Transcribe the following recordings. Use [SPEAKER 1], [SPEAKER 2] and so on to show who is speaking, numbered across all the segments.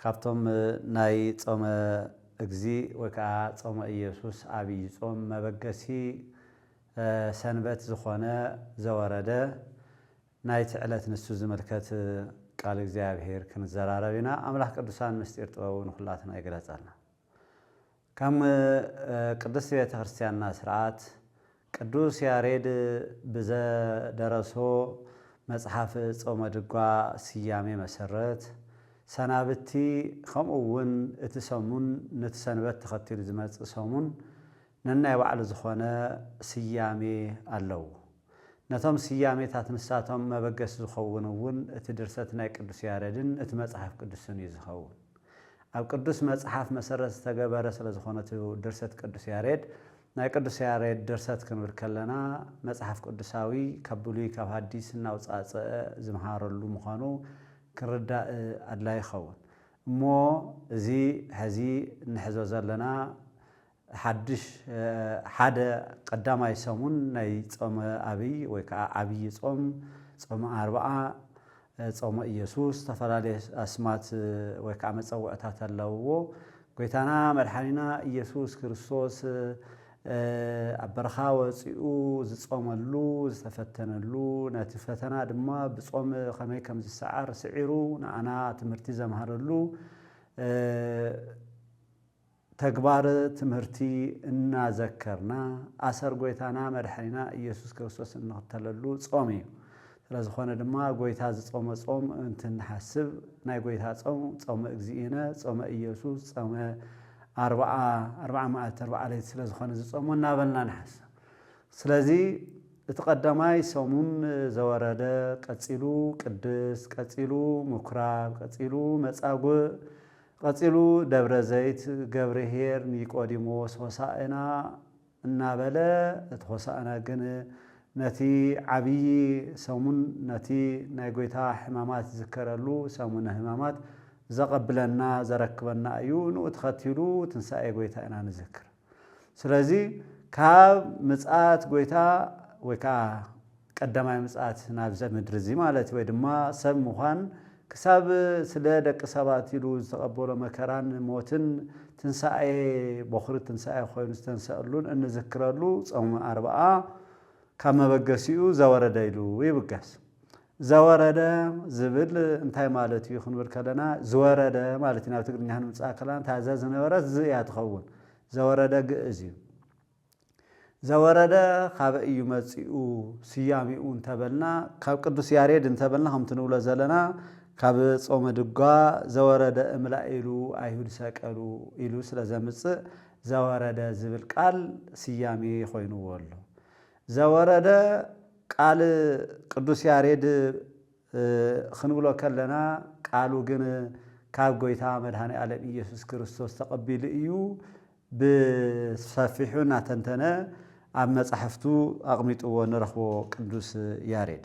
[SPEAKER 1] ካብቶም ናይ ጾመ እግዚእ ወይ ከኣ ጾመ ኢየሱስ ዓቢይ ጾም መበገሲ ሰንበት ዝኾነ ዘወረደ ናይቲ ዕለት ንሱ ዝምልከት ቃል እግዚኣብሔር ክንዘራረብ ኢና። ኣምላኽ ቅዱሳን ምስጢር ጥበቡ ንኹላትና ይግለጸልና። ከም ቅድስት ቤተ ክርስቲያንና ሥርዓት ቅዱስ ያሬድ ብዘደረሶ መጽሓፍ ጾመ ድጓ ስያሜ መሰረት፣ ሰናብቲ ከምኡ እውን እቲ ሰሙን ነቲ ሰንበት ተኸቲሉ ዝመጽእ ሰሙን ነናይ ባዕሉ ዝኾነ ስያሜ ኣለዎ። ነቶም ስያሜታት ንሳቶም መበገሲ ዝኸውን እውን እቲ ድርሰት ናይ ቅዱስ ያረድን እቲ መጽሓፍ ቅዱስን እዩ ዝኸውን። ኣብ ቅዱስ መጽሓፍ መሰረት ዝተገበረ ስለዝኾነ እቲ ድርሰት ቅዱስ ያሬድ ናይ ቅዱስ ያሬድ ድርሰት ክንብል ከለና መጽሓፍ ቅዱሳዊ ካብ ብሉይ ካብ ሃዲስ እናውጻጸኣ ዝምሃረሉ ምዃኑ ክንርዳእ ኣድላይ ይኸውን። እሞ እዚ ሕዚ እንሕዞ ዘለና ሓድሽ ሓደ ቀዳማይ ሰሙን ናይ ጾመ ኣብይ ወይ ከኣ ዓብይ ጾም፣ ጾመ ኣርብዓ፣ ጾመ ኢየሱስ ዝተፈላለየ ኣስማት ወይ ከኣ መጸውዕታት ኣለውዎ። ጎይታና መድሓኒና ኢየሱስ ክርስቶስ ኣብ በረኻ ወጺኡ ዝጾመሉ ዝተፈተነሉ ነቲ ፈተና ድማ ብጾም ከመይ ከም ዝሰዓር ስዒሩ ንኣና ትምህርቲ ዘምሃረሉ ተግባር ትምህርቲ እናዘከርና ኣሰር ጎይታና መድሐኒና እየሱስ ክርስቶስ እንኽተለሉ ጾም እዩ። ስለዝኾነ ድማ ጎይታ ዝጾመ ጾም እንትንሓስብ ናይ ጎይታ ጾም ጾመ እግዚእነ ጾመ እየሱስ ጾመ ኣርብዓ ኣርብዓ መዓልቲ ኣርብዓ ለይቲ ስለዝኾነ ዝጾሞ እናበልና ንሓስብ። ስለዚ እቲ ቀዳማይ ሰሙን ዘወረደ ቀጺሉ ቅድስ ቀጺሉ ምኩራብ ቀጺሉ መጻጉእ ቐጺሉ ደብረ ዘይት ገብርሄር ኒቆዲሞስ ሆሣእና እናበለ እቲ ሆሣእና ግን ነቲ ዓቢይ ሰሙን ነቲ ናይ ጐይታ ሕማማት ዝዝከረሉ ሰሙነ ሕማማት ዘቐብለና ዘረክበና እዩ ንኡ ተኸቲሉ ትንሣኤ ጐይታ ኢና ንዝክር። ስለዚ ካብ ምጽኣት ጎይታ ወይ ከኣ ቀዳማይ ምጽኣት ናብዘ ምድሪ እዚ ማለት ወይ ድማ ሰብ ምዃን ክሳብ ስለ ደቂ ሰባት ኢሉ ዝተቐበሎ መከራን ሞትን ትንሳኤ ቦኽሪ ትንሳኤ ኮይኑ ዝተንሰኣሉን እንዝክረሉ ጾመ ኣርብኣ ካብ መበገሲኡ ዘወረደ ኢሉ ይብገስ። ዘወረደ ዝብል እንታይ ማለት እዩ ክንብል ከለና ዝወረደ ማለት እዩ ናብ ትግርኛ ክንምጽኣ ከለና እታ ዘ ዝነበረት ዝ እያ ትኸውን ዘወረደ ግእዝ እዩ ዘወረደ ካበይ እዩ መጺኡ ስያሜኡ እንተበልና ካብ ቅዱስ ያሬድ እንተበልና ከምቲ ንብሎ ዘለና ካብ ጾመ ድጓ ዘወረደ እምላኢሉ ኣይሁድ ሰቀሉ ኢሉ ስለ ዘምጽእ ዘወረደ ዝብል ቃል ስያሜ ኮይንዎ ኣሎ ዘወረደ ቃል ቅዱስ ያሬድ ኽንብሎ ከለና ቃሉ ግን ካብ ጎይታ መድኃኔዓለም ኢየሱስ ክርስቶስ ተቐቢሉ እዩ ብሰፊሑ እናተንተነ ኣብ መጻሕፍቱ ኣቕሚጥዎ ንረኽቦ ቅዱስ ያሬድ።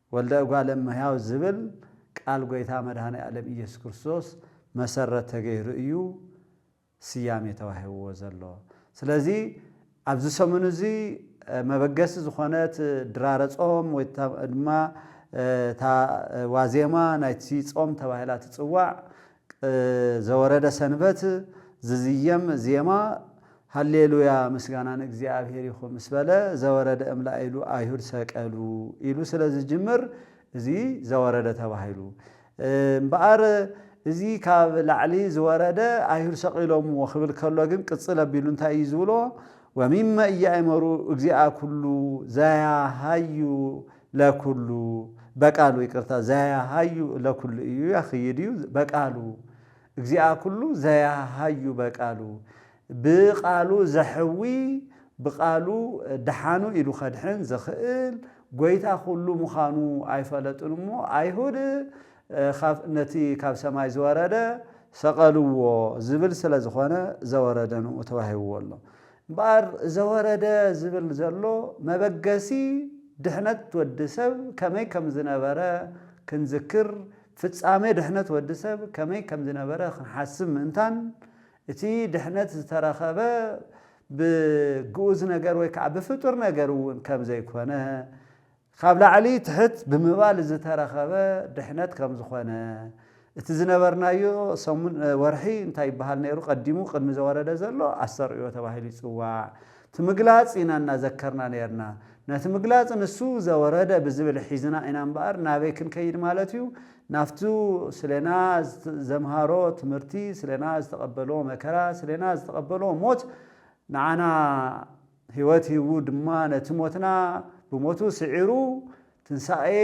[SPEAKER 1] ወልደ እጓለ እመሕያው ዝብል ቃል ጐይታ መድኃኔዓለም ኢየሱስ ክርስቶስ መሠረት ተገይሩ እዩ ስያሜ ተዋሂብዎ ዘሎ። ስለዚ ኣብዚ ሰሙን እዚ መበገሲ ዝኾነት ድራረ ጾም ወይ ድማ እታ ዋዜማ ናይቲ ጾም ተባሂላ ትጽዋዕ ዘወረደ ሰንበት ዝዝየም ዜማ ሃሌሉያ ምስጋና ንእግዚኣብሔር ይኹን ምስ በለ ዘወረደ እምላኢሉ ኣይሁድ ሰቀሉ ኢሉ ስለ ዝጅምር እዚ ዘወረደ ተባሂሉ እምበኣር እዚ ካብ ላዕሊ ዝወረደ ኣይሁድ ሰቒሎምዎ ክብል ከሎ ግን ቅጽል ኣቢሉ እንታይ እዩ ዝብሎ ወሚመ እያእመሩ እግዚኣ ኩሉ ዘያሃዩ ለኩሉ በቃሉ ይቅርታ ዘያሃዩ ለኩሉ እዩ ያክይድ እዩ በቃሉ እግዚኣ ኩሉ ዘያሃዩ በቃሉ ብቃሉ ዘሕዊ ብቃሉ ደሓኑ ኢሉ ከድሕን ዝኽእል ጎይታ ኩሉ ምዃኑ ኣይፈለጡን እሞ ኣይሁድ ነቲ ካብ ሰማይ ዝወረደ ሰቀልዎ ዝብል ስለ ዝኾነ ዘወረደ ንኡ ተዋሂብዎ ኣሎ እምበኣር ዘወረደ ዝብል ዘሎ መበገሲ ድሕነት ወዲ ሰብ ከመይ ከም ዝነበረ ክንዝክር፣ ፍጻሜ ድሕነት ወዲ ሰብ ከመይ ከም ዝነበረ ክንሓስብ ምእንታን፣ እቲ ድሕነት ዝተረኸበ ብግኡዝ ነገር ወይ ከኣ ብፍጡር ነገር እውን ከም ዘይኮነ፣ ኻብ ላዕሊ ትሕት ብምባል ዝተረኸበ ድሕነት ከም ዝኾነ፣ እቲ ዝነበርናዮ ሰሙን፣ ወርሒ፣ እንታይ ይበሃል ነይሩ ቀዲሙ ቅድሚ ዘወረደ ዘሎ ኣስተርእዮ ተባሂሉ ይጽዋዕ፣ እቲ ምግላጽ ኢና እናዘከርና ነይርና። ነቲ ምግላጽ ንሱ ዘወረደ ብዝብል ሒዝና ኢና እምበኣር ናበይ ክንከይድ ማለት እዩ? ናብቲ ስሌና ዘምሃሮ ትምህርቲ፣ ስሌና ዝተቐበሎ መከራ፣ ስሌና ዝተቐበሎ ሞት ንዓና፣ ሕይወት ሂቡ ድማ ነቲ ሞትና ብሞቱ ስዒሩ ትንሣኤ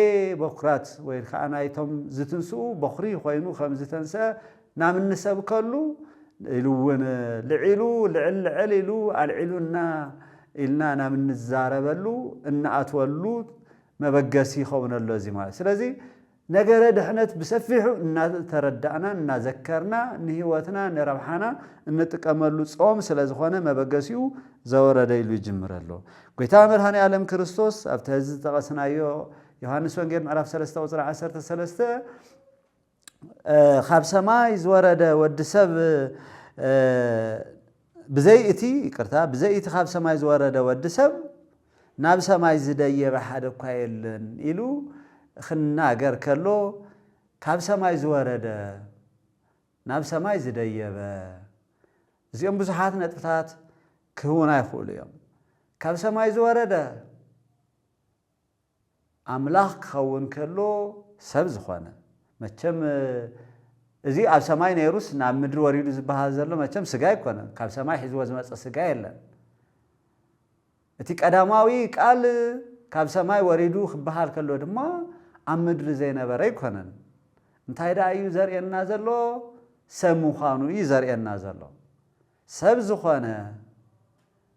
[SPEAKER 1] በኵራት ወይ ከዓ ናይቶም ዝትንስኡ በዅሪ ኾይኑ ከም ዝተንሥአ ናብ እንሰብከሉ ኢሉ እውን ልዒሉ ልዕል ልዕል ኢሉ ኣልዒሉና ኢልና ናብ እንዛረበሉ እንኣትወሉ መበገሲ ይኸውን ኣሎ እዚ ማለት ስለዚ ነገረ ድሕነት ብሰፊሑ እናተረዳእናን እናዘከርና ንህይወትና ንረብሓና እንጥቀመሉ ጾም ስለ ዝኾነ መበገሲኡ ዘወረደ ኢሉ ይጅምር ኣሎ። ጎይታ መድኃኔ ዓለም ክርስቶስ ኣብቲ ሕዚ ዝጠቐስናዮ ዮሐንስ ወንጌል ምዕራፍ ሰለስተ ቁጽሪ ዓሰርተ ሰለስተ ካብ ሰማይ ዝወረደ ወዲ ሰብ ብዘይ እቲ፣ ይቅርታ፣ ብዘይ እቲ ካብ ሰማይ ዝወረደ ወዲ ሰብ ናብ ሰማይ ዝደየበ ሓደ እኳ የለን ኢሉ ኽናገር ከሎ ካብ ሰማይ ዝወረደ፣ ናብ ሰማይ ዝደየበ፣ እዚኦም ብዙሓት ነጥብታት ክህቡና ይኽእሉ እዮም። ካብ ሰማይ ዝወረደ፣ ኣምላኽ ክኸውን ከሎ ሰብ ዝኾነ። መቸም እዚ ኣብ ሰማይ ነይሩስ ናብ ምድሪ ወሪዱ ዝበሃል ዘሎ መቸም ስጋ ኣይኮነን፣ ካብ ሰማይ ሒዝዎ ዝመጸ ስጋ የለን። እቲ ቀዳማዊ ቃል ካብ ሰማይ ወሪዱ ክበሃል ከሎ ድማ ኣብ ምድሪ ዘይነበረ ኣይኮነን። እንታይ ደኣ እዩ ዘርእየና ዘሎ? ሰብ ምዃኑ እዩ ዘርእየና ዘሎ። ሰብ ዝኾነ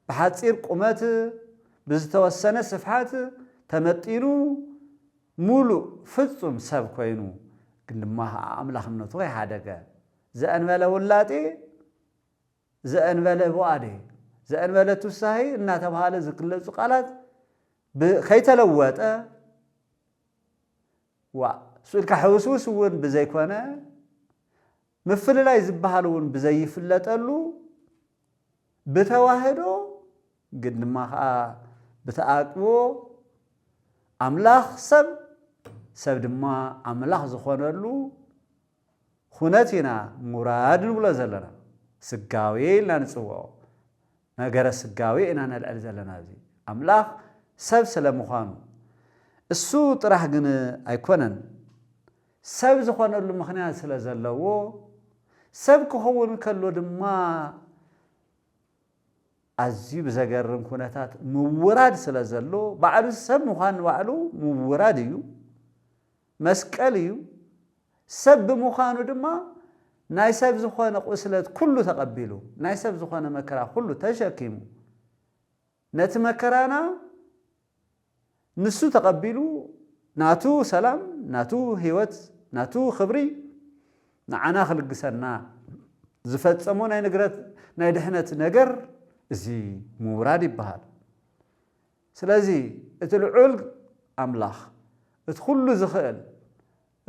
[SPEAKER 1] ብሓጺር ቁመት ብዝተወሰነ ስፍሓት ተመጢኑ ሙሉእ ፍጹም ሰብ ኮይኑ ግን ድማ ከኣ ኣምላኽነቱ ከይሓደገ ዘእንበለ ውላጤ ዘእንበለ ቡኣዴ ዘእንበለ ቱሳሄ እናተብሃለ ዝግለጹ ቃላት ብ ከይተለወጠ ዋእ ሱኢልካ ሕውስውስ እውን ብዘይኮነ ምፍልላይ ዝበሃል እውን ብዘይፍለጠሉ፣ ብተዋህዶ ግን ድማ ኸኣ ብተኣቅቦ ኣምላኽ ሰብ፣ ሰብ ድማ ኣምላኽ ዝኾነሉ ኹነት ኢና ምውራድ ንብሎ ዘለና። ስጋዌ ኢልና ንጽውዖ። ነገረ ስጋዌ ኢና ነልዕል ዘለና ኣብዚ። ኣምላኽ ሰብ ስለ ምዃኑ። እሱ ጥራሕ ግን ኣይኮነን። ሰብ ዝኾነሉ ምኽንያት ስለ ዘለዎ፣ ሰብ ክኸውን ከሎ ድማ ኣዝዩ ብዘገርም ኩነታት ምውራድ ስለ ዘሎ፣ ባዕሉ ሰብ ምዃን ንባዕሉ ምውራድ እዩ። መስቀል እዩ፣ ሰብ ብምዃኑ ድማ ናይ ሰብ ዝኾነ ቁስለት ኩሉ ተቐቢሉ፣ ናይ ሰብ ዝኾነ መከራ ኩሉ ተሸኪሙ፣ ነቲ መከራና ንሱ ተቐቢሉ ናቱ ሰላም፣ ናቱ ህይወት፣ ናቱ ክብሪ ንዓና ክልግሰና ዝፈጸሞ ናይ ንግረት ናይ ድሕነት ነገር እዚ ምውራድ ይበሃል። ስለዚ እቲ ልዑል ኣምላኽ፣ እቲ ኹሉ ዝኽእል፣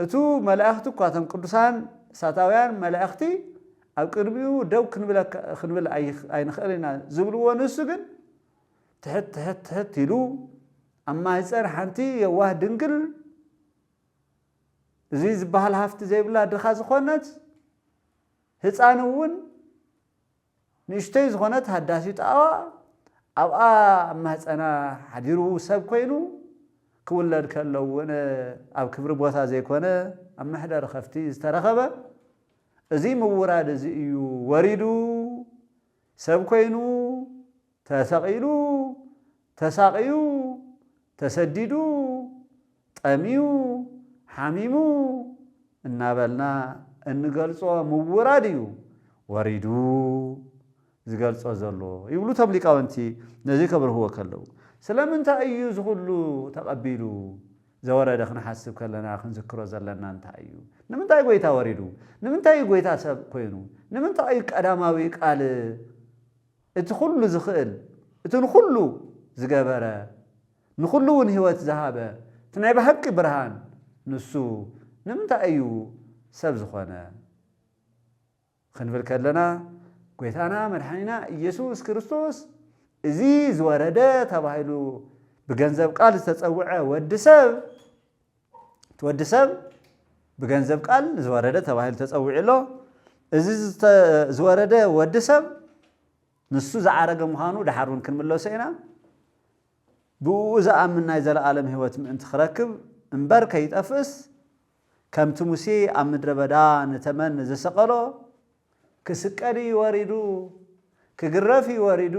[SPEAKER 1] እቱ መላእኽቲ እኳ እቶም ቅዱሳን እሳታውያን መላእኽቲ ኣብ ቅድሚኡ ደው ክንብል ኣይንኽእልን ኢና ዝብልዎ ንሱ ግን ትሕት ትሕት ትሕት ኢሉ ኣብ ማህፀን ሓንቲ የዋህ ድንግል እዚ ዝበሃል ሃፍቲ ዘይብላ ድኻ ዝኾነት ህፃን እውን ንእሽቶይ ዝኾነት ሃዳሲ ጣባ ኣብኣ ኣብ ማህጸና ሓዲሩ ሰብ ኮይኑ ክውለድ ከሎ እውን ኣብ ክብሪ ቦታ ዘይኮነ ኣብ መሕደሪ ከፍቲ ዝተረኸበ እዚ ምውራድ እዚ እዩ ወሪዱ ሰብ ኮይኑ ተሰቒሉ፣ ተሳቕዩ፣ ተሰዲዱ፣ ጠምዩ፣ ሓሚሙ እናበልና እንገልጾ ምውራድ እዩ ወሪዱ ዝገልጾ ዘሎ ይብሉ እቶም ሊቃውንቲ ነዚ ከብርህዎ ከለዉ። ስለምንታይ እዩ እዚ ኩሉ ተቐቢሉ ዘወረደ ክንሓስብ ከለና ክንዝክሮ ዘለና እንታይ እዩ? ንምንታይ ጎይታ ወሪዱ? ንምንታይ እዩ ጎይታ ሰብ ኮይኑ? ንምንታይ እዩ ቀዳማዊ ቃል? እቲ ኹሉ ዝኽእል እቲ ንኹሉ ዝገበረ ንኹሉ ውን ህይወት ዝሃበ እቲ ናይ ብሃቂ ብርሃን ንሱ ንምንታይ እዩ ሰብ ዝኾነ ኽንብል ከለና ጎይታና መድሓኒና ኢየሱስ ክርስቶስ እዚ ዝወረደ ተባሂሉ ብገንዘብ ቃል ዝተጸውዐ ወዲ ሰብ እቲ ወዲ ሰብ ብገንዘብ ቃል ዝወረደ ተባሂሉ ተጸዊዑ ኣሎ። እዚ ዝወረደ ወዲ ሰብ ንሱ ዝዓረገ ምዃኑ ደሓር እውን ክንምለሶ ኢና። ብእኡ ዝኣምን ናይ ዘለኣለም ህይወት ምእንቲ ክረክብ እምበር ከይጠፍእስ ከምቲ ሙሴ ኣብ ምድረ በዳ ንተመን ዝሰቀሎ ክስቀል እዩ ወሪዱ፣ ክግረፍ እዩ ወሪዱ፣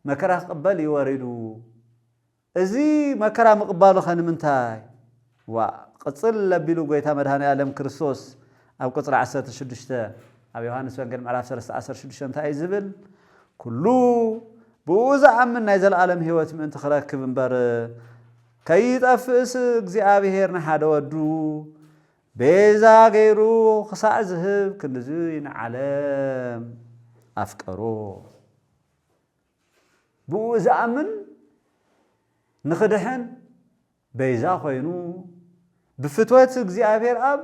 [SPEAKER 1] መከራ ክቕበል እዩ ወሪዱ። እዚ መከራ ምቕባሉኸ ንምንታይ? ዋእ ቕፅል ኣቢሉ ጎይታ መድኃኔኣለም ክርስቶስ ኣብ ቁፅሪ ዓሰርተ ሽዱሽተ ኣብ ዮሐንስ ወንጌል ምዕራፍ ሰለስተ ዓሰርተ ሽዱሽተ እንታይ እዩ ዝብል? ኩሉ ብእኡ ዝኣምን ናይ ዘለዓለም ሕይወት ምእንቲ ክረክብ እምበር ከይጠፍእስ እግዚኣብሔር ንሓደ ወዱ ቤዛ ገይሩ ክሳዕ ዝህብ ክንድዙይ ንዓለም ኣፍቀሮ። ብእኡ ዝኣምን ንኽድሕን በይዛ ኾይኑ ብፍትወት እግዚኣብሔር ኣብ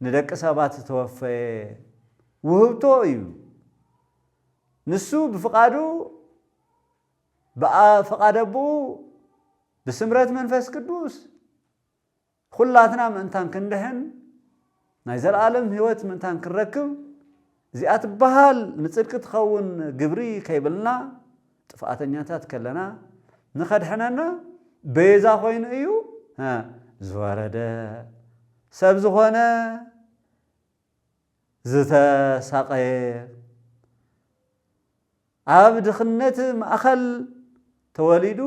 [SPEAKER 1] ንደቂ ሰባት ዝተወፈየ ውህብቶ እዩ። ንሱ ብፍቓዱ ብኣ ፍቓድ ኣቦኡ ብስምረት መንፈስ ቅዱስ ዅላትና ምእንታን ክንድሕን፣ ናይ ዘለኣለም ህይወት ምእንታን ክንረክብ፣ እዚኣ ትበሃል ንጽድቂ ትኸውን ግብሪ ከይብልና፣ ጥፍኣተኛታት ከለና፣ ንኸድሕነና ቤዛ ኾይኑ እዩ ዝወረደ። ሰብ ዝኾነ። ዝተሳቐየ፣ ኣብ ድኽነት ማእኸል ተወሊዱ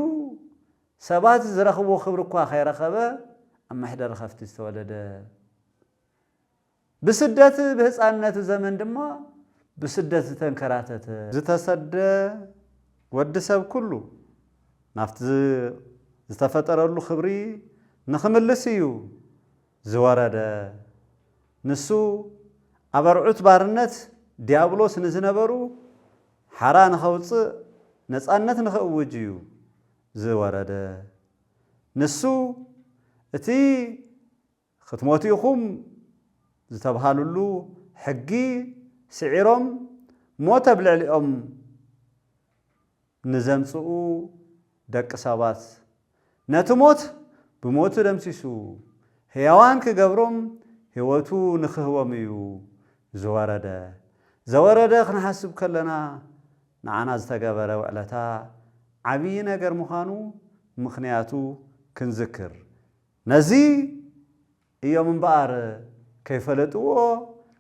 [SPEAKER 1] ሰባት ዝረኽብዎ ክብሪ እኳ ከይረኸበ ኣብ መሕደሪ ከፍቲ ዝተወለደ፣ ብስደት ብህፃንነቱ ዘመን ድማ ብስደት ዝተንከራተተ፣ ዝተሰደ ወዲ ሰብ ኩሉ ናብቲ ዝተፈጠረሉ ክብሪ ንክምልስ እዩ ዝወረደ። ንሱ ኣብ ኣርዑት ባርነት ዲያብሎስ ንዝነበሩ ሓራ ንኸውጽእ ነጻነት ንኽእውጅ እዩ ዝወረደ። ንሱ እቲ ኽትሞቱ ኢኹም ዝተብሃሉሉ ሕጊ ስዒሮም ሞት ኣብ ልዕሊኦም ንዘምጽኡ ደቂ ሰባት ነቲ ሞት ብሞቱ ደምሲሱ ሕያዋን ኪገብሮም ሕይወቱ ንኺህቦም እዩ ዝወረደ። ዘወረደ ኽንሓስብ ከለና ንዓና ዝተገበረ ውዕለታ ዓብዪ ነገር ምዃኑ ምኽንያቱ ክንዝክር ነዚ እዮም እምበኣር ከይፈለጥዎ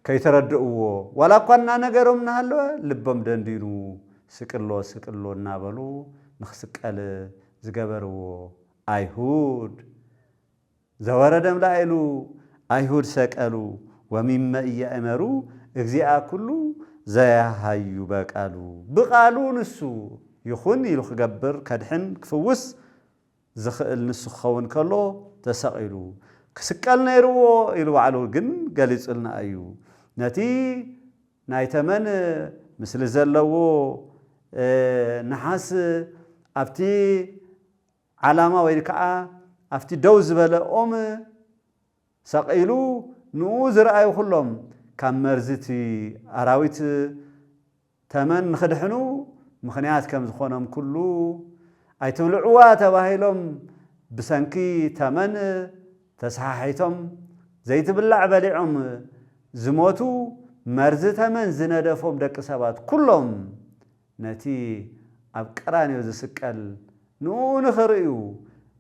[SPEAKER 1] ከይተረድእዎ ዋላ እኳ እናነገሮም እናሃለወ ልቦም ደንዲኑ ስቅሎ ስቅሎ እናበሉ ንኽስቀል ዝገበርዎ ኣይሁድ ዘወረደም ላዕሉ ኣይሁድ ሰቀሉ ወሚመ ኢያእመሩ እግዚኣ ኩሉ ዘያሃዩ በቃሉ ብቃሉ ንሱ ይኹን ኢሉ ክገብር ከድሕን ክፍውስ ዝኽእል ንሱ ክኸውን ከሎ ተሰቒሉ። ክስቀል ነይርዎ ኢሉ ባዕሉ ግን ገሊጹልና እዩ። ነቲ ናይ ተመን ምስሊ ዘለዎ ነሓስ ኣብቲ ዓላማ ወይ ከኣ ኣብቲ ደው ዝበለ ኦም ሰቒሉ ንኡ ዝረኣዩ ኩሎም ካብ መርዚ እቲ ኣራዊት ተመን ንኽድሕኑ ምኽንያት ከም ዝኾኖም ኩሉ፣ ኣይትብልዕዋ ተባሂሎም ብሰንኪ ተመን ተሰሓሒቶም ዘይትብላዕ በሊዖም ዝሞቱ መርዚ ተመን ዝነደፎም ደቂ ሰባት ኩሎም ነቲ ኣብ ቀራንዮ ዝስቀል ንእኡ ንኽርእዩ፣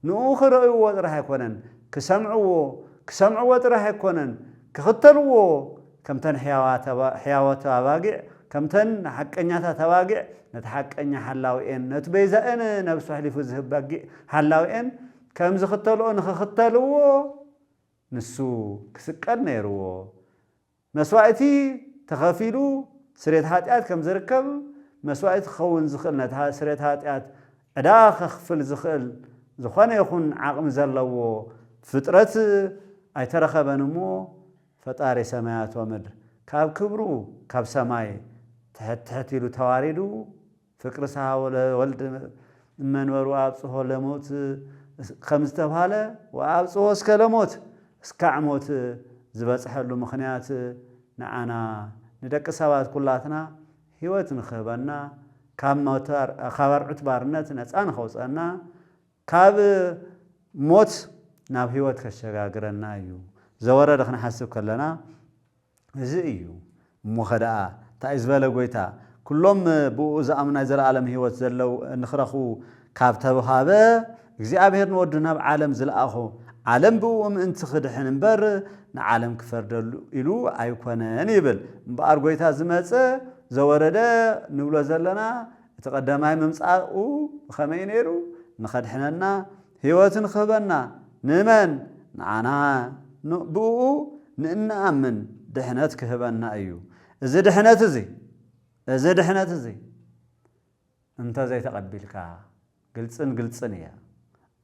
[SPEAKER 1] ንእኡ ክርእይዎ ጥራሕ ኣይኮነን፣ ክሰምዕዎ፣ ክሰምዕዎ ጥራሕ ኣይኮነን፣ ክኽተልዎ፣ ከምተን ሕያዋት ኣባጊዕ፣ ከምተን ሓቀኛታት ኣባጊዕ፣ ነቲ ሓቀኛ ሓላዊኤን፣ ነቲ በይዛኤን ነብሱ ኣሕሊፉ ዝህብ በጊዕ ሓላዊኤን ከም ዝኽተልኦ ንኽኽተልዎ፣ ንሱ ክስቀል ነይርዎ። መስዋእቲ ተኸፊሉ ስርየት ሓጢኣት ከም ዝርከብ፣ መስዋእቲ ክኸውን ዝኽእል ነቲ ስርየት ሓጢኣት ዕዳ ከኽፍል ዝኽእል ዝኾነ ይኹን ዓቕሚ ዘለዎ ፍጥረት ኣይተረኸበን እሞ ፈጣሪ ሰማያት ወምድር ካብ ክብሩ ካብ ሰማይ ትሕት ትሕት ኢሉ ተዋሪዱ ፍቅርሳ ወልድ እመንበሩ ኣብጽሖ ለሞት ከም ዝተብሃለ ወኣብጽሖ እስከ ለሞት እስካዕ ሞት ዝበጽሐሉ ምኽንያት ንዓና ንደቂ ሰባት ኩላትና ሕይወት ንክህበና ካብ ኣርዑት ባርነት ነጻ ንከውጽኣና ካብ ሞት ናብ ሕይወት ከሸጋግረና እዩ ዘወረደ ክንሓስብ ከለና እዚ እዩ እሞ ኸደኣ ታይ ዝበለ ጎይታ ኩሎም ብእኡ ዝኣምኑ ናይ ዘለኣለም ህይወት ዘለው ንኽረኽቡ ካብ ተብሃበ እግዚኣብሔር ንወዱ ናብ ዓለም ዝልኣኾ ዓለም ብእኡ ምእንቲ ክድሕን እምበር ንዓለም ክፈርደሉ ኢሉ ኣይኮነን ይብል እምበኣር ጎይታ ዝመጸ ዘወረደ ንብሎ ዘለና እቲ ቀዳማይ ምምጻኡ ብኸመይ እዩ ነይሩ ንኸድሕነና ሕይወትን ኽህበና ንእመን ንዓና ን ብእኡ ንእንኣምን ድኅነት ክህበና እዩ እዚ ድኅነት እዚ እዚ ድኅነት እዚ እንተ ዘይተቐቢልካ ግልጽን ግልጽን እያ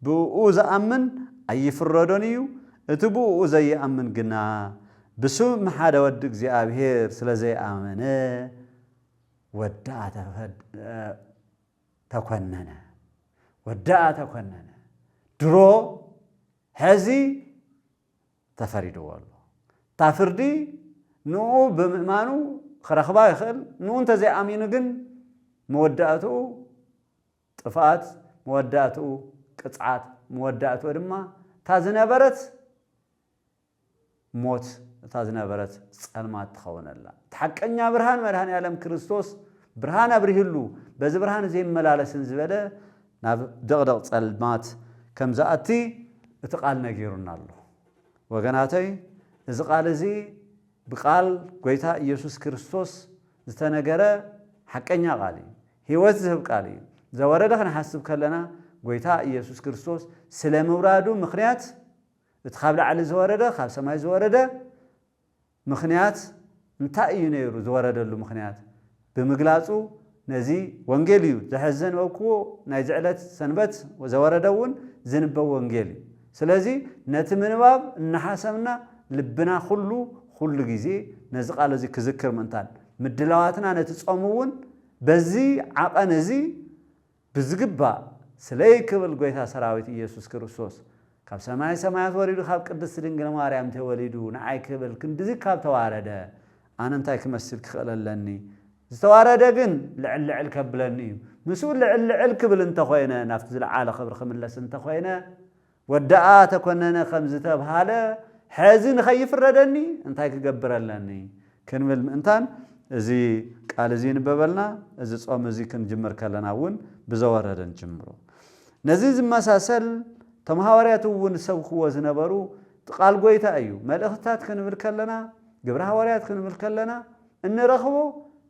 [SPEAKER 1] ብእኡ ዝኣምን ኣይፍረዶን እዩ እቲ ብእኡ ዘይኣምን ግና ብስም ሓደ ወዲ እግዚኣብሔር ስለ ዘይኣመነ ወዳ ተፈድ ተኮነነ ወደኣ ተኮነነ ድሮ ሐዚ ተፈሪድዎ ኣሎ እታ ፍርዲ ንኡ ብምእማኑ ክረኽባ ይኽእል ንኡ እንተዘይኣሚኑ ግን መወዳእትኡ ጥፍኣት መወዳእትኡ ቅፅዓት መወዳእትኡ ድማ እታ ዝነበረት ሞት እታ ዝነበረት ጸልማት ትኸውነላ። እቲ ሓቀኛ ብርሃን መድኃኔዓለም ክርስቶስ ብርሃን ኣብሪህሉ በዚ ብርሃን እዚ የመላለስን ዝበለ ናብ ድቕድቕ ጸልማት ከም ዝኣቲ እቲ ቃል ነጊሩና ኣሎ። ወገናተይ እዚ ቃል እዚ ብቃል ጐይታ ኢየሱስ ክርስቶስ ዝተነገረ ሓቀኛ ቃል እዩ። ሕይወት ዝህብ ቃል እዩ። ዘወረደ ክንሓስብ ከለና ጐይታ ኢየሱስ ክርስቶስ ስለ ምውራዱ ምኽንያት እቲ ኻብ ላዕሊ ዝወረደ፣ ኻብ ሰማይ ዝወረደ፣ ምኽንያት እንታይ እዩ ነይሩ፣ ዝወረደሉ ምኽንያት ብምግላጹ፣ ነዚ ወንጌል እዩ፣ ዝሐዚ ዘንበብክዎ ናይዚ ዕለት ሰንበት ዘወረደ እውን ዝንበብ ወንጌል እዩ። ስለዚ ነቲ ምንባብ እናሓሰብና ልብና ኹሉ ኹሉ ግዜ ነዚ ቃል እዚ ክዝክር ምእንታን ምድላዋትና ነቲ ጾም እውን በዚ ዓቐን እዚ ብዝግባእ ስለይ ክብል ጎይታ ሰራዊት ኢየሱስ ክርስቶስ ካብ ሰማይ ሰማያት ወሪዱ ካብ ቅድስት ድንግል ማርያም ተወሊዱ ንዓይ ክብል ክንድዚ ካብ ተዋረደ ኣነ እንታይ ክመስል ክኽእል ኣለኒ ዝተዋረደ ግን ልዕል ልዕል ከብለኒ እዩ ምስኡ ልዕል ልዕል ክብል እንተኾይነ ናብቲ ዝለዓለ ክብሪ ክምለስ እንተኾይነ ወደኣ ተኮነነ ከም ዝተብሃለ ሐዚ ንኸይፍረደኒ እንታይ ክገብር ኣለኒ ክንብል ምእንታን እዚ ቃል እዚ ይንበበልና እዚ ጾም እዚ ክንጅምር ከለና እውን ብዘወረደ ንጅምሮ ነዚ ዝመሳሰል እቶም ሃዋርያት እውን ዝሰብክዎ ዝነበሩ ቃል ጎይታ እዩ መልእኽትታት ክንብል ከለና ግብረ ሃዋርያት ክንብል ከለና እንረኽቦ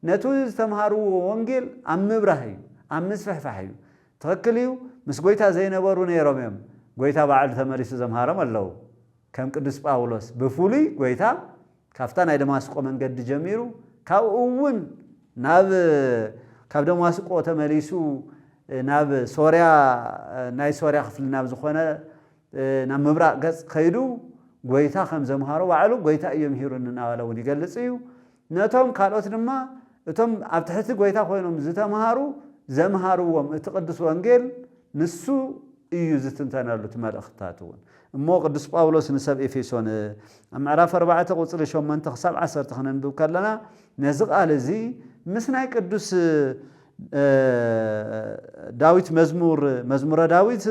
[SPEAKER 1] ነቲ ዝተምሃርዎ ወንጌል ኣብ ምብራህ እዩ ኣብ ምስፍሕፋሕ እዩ ትክክል እዩ ምስ ጎይታ ዘይነበሩ ነይሮም እዮም ጎይታ ባዕሉ ተመሊሱ ዘምሃሮም ኣለው ከም ቅዱስ ጳውሎስ ብፍሉይ ጎይታ ካብታ ናይ ደማስቆ መንገዲ ጀሚሩ ካብኡ እውን ናብ ካብ ደማስቆ ተመሊሱ ናብ ሶርያ ናይ ሶርያ ክፍሊ ናብ ዝኾነ ናብ ምብራቅ ገጽ ከይዱ ጎይታ ከም ዘምሃሮ ባዕሉ ጎይታ እዩ ምሂሩኒ እናበለ እውን ይገልጽ እዩ ነቶም ካልኦት ድማ እቶም ኣብ ትሕቲ ጐይታ ኮይኖም ዝተምሃሩ ዘምሃርዎም እቲ ቅዱስ ወንጌል ንሱ እዩ ዝትንተነሉ እቲ መልእኽትታት እውን እሞ ቅዱስ ጳውሎስ ንሰብ ኤፌሶን ኣብ ምዕራፍ ኣርባዕተ ቁጽሪ ሸሞንተ ክሳብ ዓሰርተ ክነንብብ ከለና ነዚ ቃል እዚ ምስ ናይ ቅዱስ ዳዊት መዝሙር መዝሙረ ዳዊት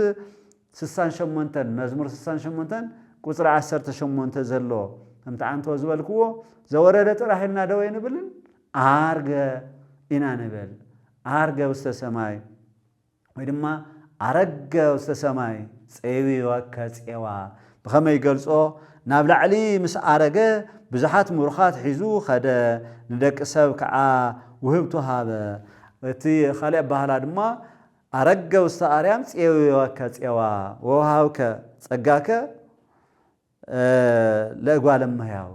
[SPEAKER 1] ስሳን ሸሞንተን፣ መዝሙር ስሳን ሸሞንተን ቁጽሪ ዓሰርተ ሸሞንተ ዘሎ፣ ከምቲ ኣንቶ ዝበልክዎ፣ ዘወረደ ጥራሕ ኢልና ዶ ኣይንብልን፣ ዓርገ ኢና ንብል። ዓርገ ውስተ ሰማይ፣ ወይ ድማ ዓረገ ውስተ ሰማይ፣ ጼዊወከ ጼዋ፣ ብኸመይ ይገልጾ፣ ናብ ላዕሊ ምስ ዓረገ፣ ብዙሓት ምሩኻት ሒዙ ኸደ፣ ንደቂ ሰብ ከዓ ውህብቶ ሃበ። እቲ ኻልእ ኣበሃህላ ድማ፣ ኣረገ ውስተ ኣርያም ፄውወከ ፄዋ ወወሃብከ ጸጋከ ለእጓለ እመሕያው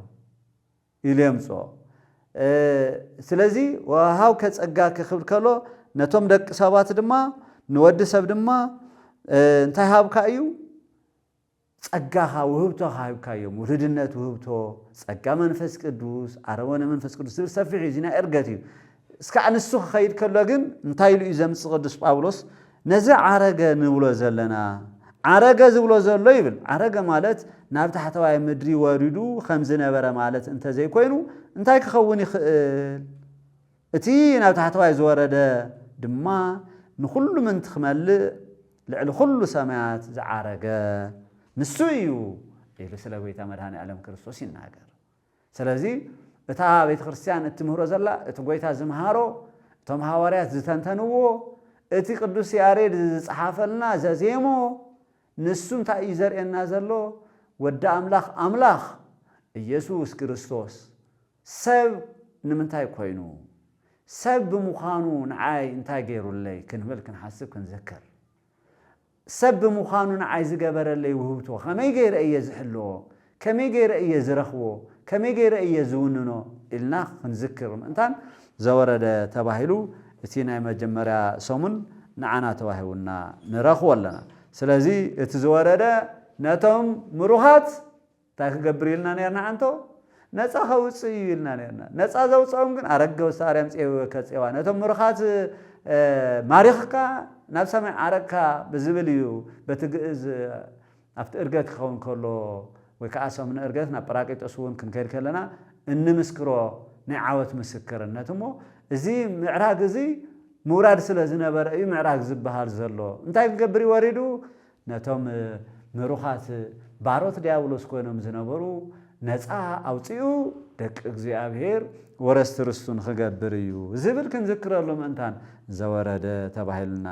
[SPEAKER 1] ኢሉ የምጽኦ። ስለዚ ወወሃብከ ጸጋከ ክብል ከሎ ነቶም ደቂ ሰባት ድማ ንወዲ ሰብ ድማ እንታይ ሃብካ እዩ? ጸጋኻ ውህብቶ ሃብካዮም ውሉድነት ውህብቶ ጸጋ መንፈስ ቅዱስ ኣረወነ መንፈስ ቅዱስ ዝብል ሰፊሕ እዩ እዚ ናይ እርገት እዩ እስካዕ ንሱ ክኸይድ ከሎ ግን እንታይ ኢሉ እዩ ዘምጽ ቅዱስ ጳውሎስ ነዚ ዓረገ ንብሎ ዘለና ዓረገ ዝብሎ ዘሎ ይብል ዓረገ ማለት ናብ ታሕተዋይ ምድሪ ወሪዱ ከም ዝነበረ ማለት እንተዘይኮይኑ እንታይ ክኸውን ይኽእል እቲ ናብ ታሕተዋይ ዝወረደ ድማ ንዅሉ ምንት ኪመልእ ልዕሊ ዅሉ ሰማያት ዝዓረገ ንሱ እዩ ኢሉ ስለ ጐይታ መድኃኔ ዓለም ክርስቶስ ይናገር። ስለዚ እታ ቤተ ክርስቲያን እትምህሮ ዘላ እቲ ጐይታ ዝምሃሮ እቶም ሓዋርያት ዝተንተንዎ እቲ ቅዱስ ያሬድ ዝጸሓፈልና ዘዜሞ ንሱ እንታይ እዩ ዘርእየና ዘሎ ወዲ ኣምላኽ ኣምላኽ ኢየሱስ ክርስቶስ ሰብ ንምንታይ ኮይኑ? ሰብ ብምዃኑ ንዓይ እንታይ ገይሩለይ? ክንብል ክንሓስብ ክንዝክር። ሰብ ብምዃኑ ንዓይ ዝገበረለይ ውህብቶ ከመይ ገይረ እየ ዝሕልዎ? ከመይ ገይረ እየ ዝረኽቦ? ከመይ ገይረ እየ ዝውንኖ? ኢልና ክንዝክር ምእንታን ዘወረደ ተባሂሉ እቲ ናይ መጀመርያ ሰሙን ንዓና ተዋሂቡና ንረኽቦ ኣለና። ስለዚ እቲ ዝወረደ ነቶም ምሩኻት። እንታይ ክገብር ኢልና ኔርና ኣንቶ? ነጻ ከውጽእ እዩ ኢልና ኔርና። ነጻ ዘውጽኦም ግን ኣረገ ወስተ-ኣርያም ጼዌወ ከጼዋ፣ ነቶም ምሩኻት ማሪኽካ ናብ ሰማይ ዓረግካ ብዝብል እዩ፣ በቲ ግእዝ ኣብቲ እርገት ክኸውን ከሎ ወይ ከኣ ሰሙነ እርገት ናብ ጰራቅሊጦስ እውን ክንከይድ ከለና እንምስክሮ ናይ ዓወት ምስክርነት እሞ እዚ ምዕራግ እዚ ምውራድ ስለ ዝነበረ እዩ ምዕራግ ዝበሃል ዘሎ። እንታይ ክገብር እዩ ወሪዱ? ነቶም ምሩኻት ባሮት ድያብሎስ ኮይኖም ዝነበሩ ነጻ ኣውጺኡ ደቂ እግዚኣብሔር ወረስቲ ርስቱ ንኽገብር እዩ ዝብል ክንዝክረሉ ምእንታን ዘወረደ ተባሂሉና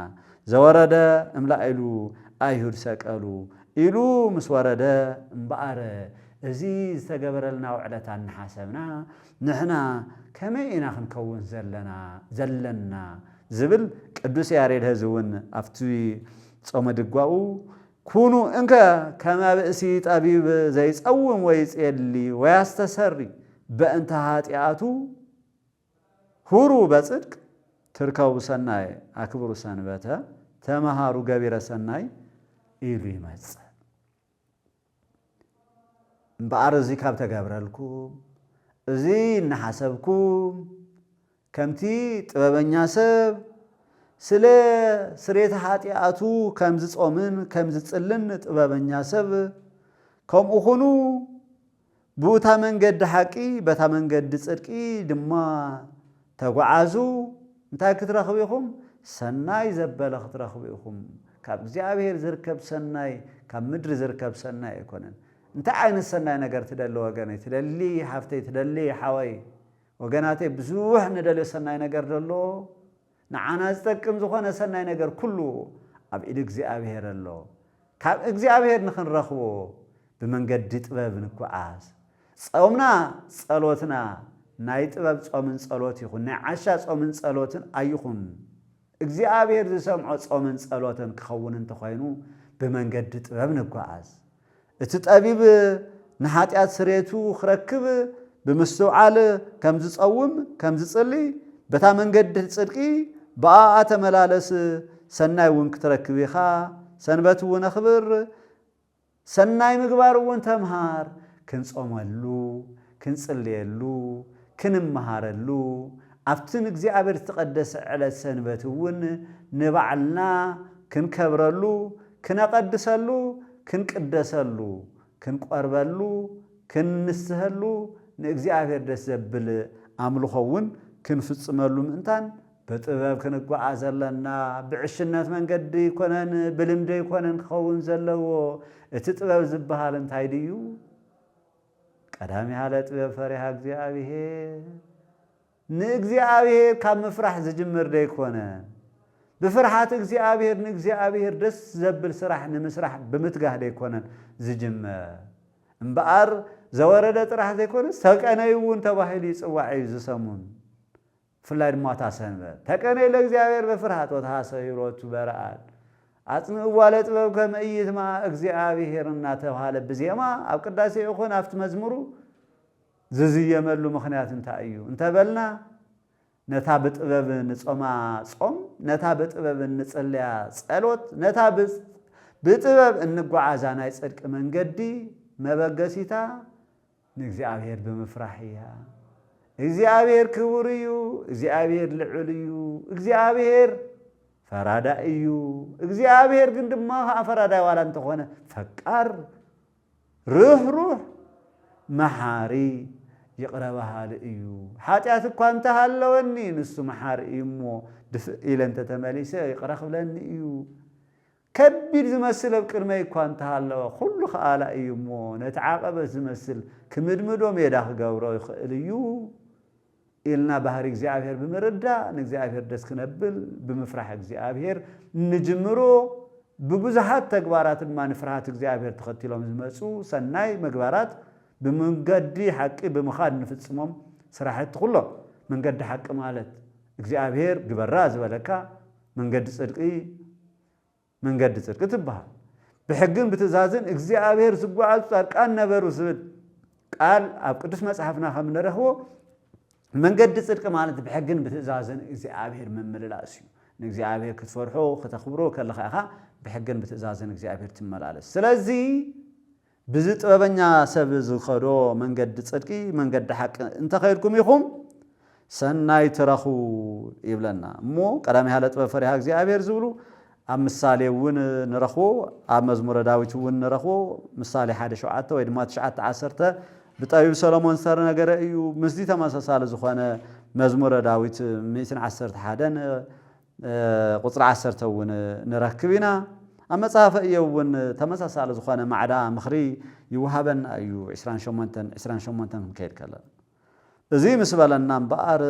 [SPEAKER 1] ዘወረደ እምላኢሉ ኣይሁድ ሰቀሉ ኢሉ ምስ ወረደ እምበኣር እዚ ዝተገበረልና ውዕለታ እናሓሰብና ንሕና ከመይ ኢና ክንከውን ዘለና ዝብል ቅዱስ ያሬድ ሀዚ እውን ኣብቲ ጾመ ድጓኡ ኩኑ እንከ ከመ ብእሲ ጠቢብ ዘይጸውም ወይጼሊ ወያስተሰሪ በእንተ ኃጢኣቱ ሁሩ በጽድቅ ትርከቡ ሠናየ አክብሩ ሰንበተ ተመሃሩ ገቢረ ሠናይ ኢሉ ይመጽእ። እምበኣር እዚ ካብ ተገብረልኩም፣ እዚ እናሓሰብኩም፣ ከምቲ ጥበበኛ ሰብ ስለ ስርየተ ኃጢኣቱ ከም ዝጾምን ከም ዝጽልን ጥበበኛ ሰብ ከምኡ ኹኑ፣ ብኡታ መንገዲ ሓቂ፣ በታ መንገዲ ጽድቂ ድማ ተጕዓዙ፣ እንታይ ክትረኽቡ ኢኹም? ሰናይ ዘበለ ክትረኽቡ ኢኹም። ካብ እግዚኣብሔር ዚርከብ ሰናይ፣ ካብ ምድሪ ዚርከብ ሰናይ ኣይኮነን። እንታይ ዓይነት ሰናይ ነገር ትደሊ ወገነይ፣ ትደሊ ሓፍተይ፣ ትደሊ ሓወይ? ወገናተይ ብዙሕ ንደልዮ ሰናይ ነገርዶ ኣሎ? ንዓና ዝጠቅም ዝኾነ ሰናይ ነገር ኩሉ ኣብ ኢድ እግዚኣብሔር ኣሎ። ካብ እግዚኣብሔር ንክንረኽቦ ብመንገዲ ጥበብ ንጓዓዝ። ጸውምና ጸሎትና ናይ ጥበብ ጾምን ጸሎት ይኹን ናይ ዓሻ ጾምን ጸሎትን ኣይኹን። እግዚኣብሔር ዝሰምዖ ጾምን ጸሎትን ክኸውን እንተኾይኑ ብመንገዲ ጥበብ ንጓዓዝ። እቲ ጠቢብ ንሓጢኣት ስርየቱ ክረክብ ብምስትውዓል ከም ዝጸውም ከም ዝጽሊ በታ መንገድ ጽድቂ ብኣኣ ተመላለስ ሰናይ እውን ክትረክብ ኢኻ ሰንበት እውን ኣኽብር ሰናይ ምግባር እውን ተምሃር ክንጾመሉ ክንጽልየሉ፣ ክንመሃረሉ፣ ኣብቲ ንእግዚኣብሔር ዝተቐደሰ ዕለት ሰንበት እውን ንባዕልና ክንከብረሉ፣ ክነቐድሰሉ፣ ክንቅደሰሉ፣ ክንቆርበሉ፣ ክንንስሀሉ፣ ንእግዚኣብሔር ደስ ዘብል ኣምልኾ እውን ክንፍጽመሉ ምእንታን፣ ብጥበብ ክንጓዓዝ ኣለና፣ ብዕሽነት መንገዲ ኣይኮነን፣ ብልምዲ ኣይኮነን ክኸውን ዘለዎ፣ እቲ ጥበብ ዝበሃል እንታይ ድዩ? ቀዳሚ ሃለ ጥበብ ፈሪሃ እግዚኣብሔር ንእግዚኣብሔር ካብ ምፍራሕ ዝጅምር ደይኮነን። ብፍርሓት እግዚኣብሔር ንእግዚኣብሔር ደስ ዘብል ስራሕ ንምስራሕ ብምትጋህ ደይኮነን ዝጅመር። እምበኣር ዘወረደ ጥራሕ ዘይኮነስ ሰቀነይ'ውን ተባሂሉ ይጽዋዕ እዩ ዝሰሙን። ብፍላይ ድማ እታ ሰንበት ተቀኔ ለእግዚኣብሔር በፍርሃት ወተሃሰዩ ሎቱ በረኣድ ኣጽንእዋ ለጥበብ ከመ ኢይትመኣ እግዚኣኣብሔር እናተብሃለ ብዜማ ኣብ ቅዳሴ ይኹን ኣብቲ መዝሙሩ ዝዝየመሉ ምኽንያት እንታይ እዩ እንተበልና ነታ ብጥበብ እንጾማ ጾም፣ ነታ ብጥበብ እንጽልያ ጸሎት፣ ነታ ብጥበብ እንጓዓዛ ናይ ጽድቂ መንገዲ መበገሲታ ንእግዚኣብሔር ብምፍራሕ እያ። እግዚኣብሔር ክቡር እዩ፣ እግዚኣብሔር ልዑል እዩ፣ እግዚኣብሔር ፈራዳይ እዩ። እግዚኣብሔር ግን ድማ ከዓ ፈራዳይ ዋላ እንተኾነ ፈቃር፣ ርህሩህ፣ መሓሪ፣ ይቕረ በሃሊ እዩ። ሓጢኣት እኳ እንተሃለወኒ ንሱ መሓሪ እዩ እሞ ድፍእ ኢለ እንተተመሊሰ ይቕረ ክብለኒ እዩ። ከቢድ ዝመስል ኣብ ቅድመይ እኳ እንተሃለወ፣ ኵሉ ከኣላይ እዩ እሞ፣ ነቲ ዓቐበት ዝመስል ክምድምዶ ሜዳ ክገብሮ ይኽእል እዩ ኢልና ባህርይ እግዚኣብሔር ብምርዳእ ንእግዚኣብሔር ደስ ክነብል ብምፍራሕ እግዚኣብሔር ንጅምሮ። ብብዙኃት ተግባራት ድማ ንፍርሃት እግዚኣብሔር ተኸቲሎም ዝመጹ ሠናይ ምግባራት ብመንገዲ ሓቂ ብምኻድ እንፍጽሞም ሥራሕቲ ኵሎም መንገዲ ሓቂ ማለት እግዚኣብሔር ግበራ ዝበለካ መንገዲ ጽድቂ መንገዲ ጽድቂ ትበሃል። ብሕግን ብትእዛዝን እግዚኣብሔር ዝጓዓዙ ጻድቃን ነበሩ ዝብል ቃል ኣብ ቅዱስ መጽሓፍና ከም ንረኽቦ መንገዲ ጽድቂ ማለት ብሕግን ብትእዛዝን እግዚኣብሔር ምምልላስ እዩ። ንእግዚኣብሔር ክትፈርሖ ክተኽብሮ ከለኻ ኢኻ ብሕግን ብትእዛዝን እግዚኣብሔር ትመላለስ። ስለዚ ብዚ ጥበበኛ ሰብ ዝኸዶ መንገዲ ጽድቂ መንገዲ ሓቂ እንተ ኸድኩም ኢኹም ሰናይ ትረኽቡ ይብለና እሞ ቀዳማይ ሃለ ጥበብ ፈሪሃ እግዚኣብሔር ዝብሉ ኣብ ምሳሌ እውን ንረኽቦ ኣብ መዝሙረ ዳዊት እውን ንረኽቦ ምሳሌ ሓደ ሸውዓተ ወይ ድማ ትሽዓተ ዓሰርተ ብጠቢብ ሰሎሞን ዝተነገረ እዩ ምስዚ ተመሳሳሊ ዝኾነ መዝሙረ ዳዊት ሚእትን ዓሰርተ ሓደን ቍጽሪ ዓሰርተ እውን ንረክብ ኢና። ኣብ መጽሃፈ እዮብ እውን ተመሳሳሊ ዝኾነ ማዕዳ ምኽሪ ይወሃበና እዩ፣ ዕስራን ሸሞንተን ዕስራን ሸሞንተን ክንከይድ ከለና። እዙይ ምስ በለና እምበኣር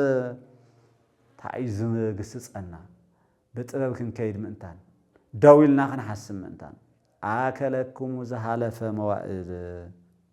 [SPEAKER 1] ታይ እዩ ዝግስጸና? ብጥበብ ክንከይድ ምእንታን፣ ደው ኢልና ክንሓስብ ምእንታን። ኣከለክሙ ዝሃለፈ መዋእል።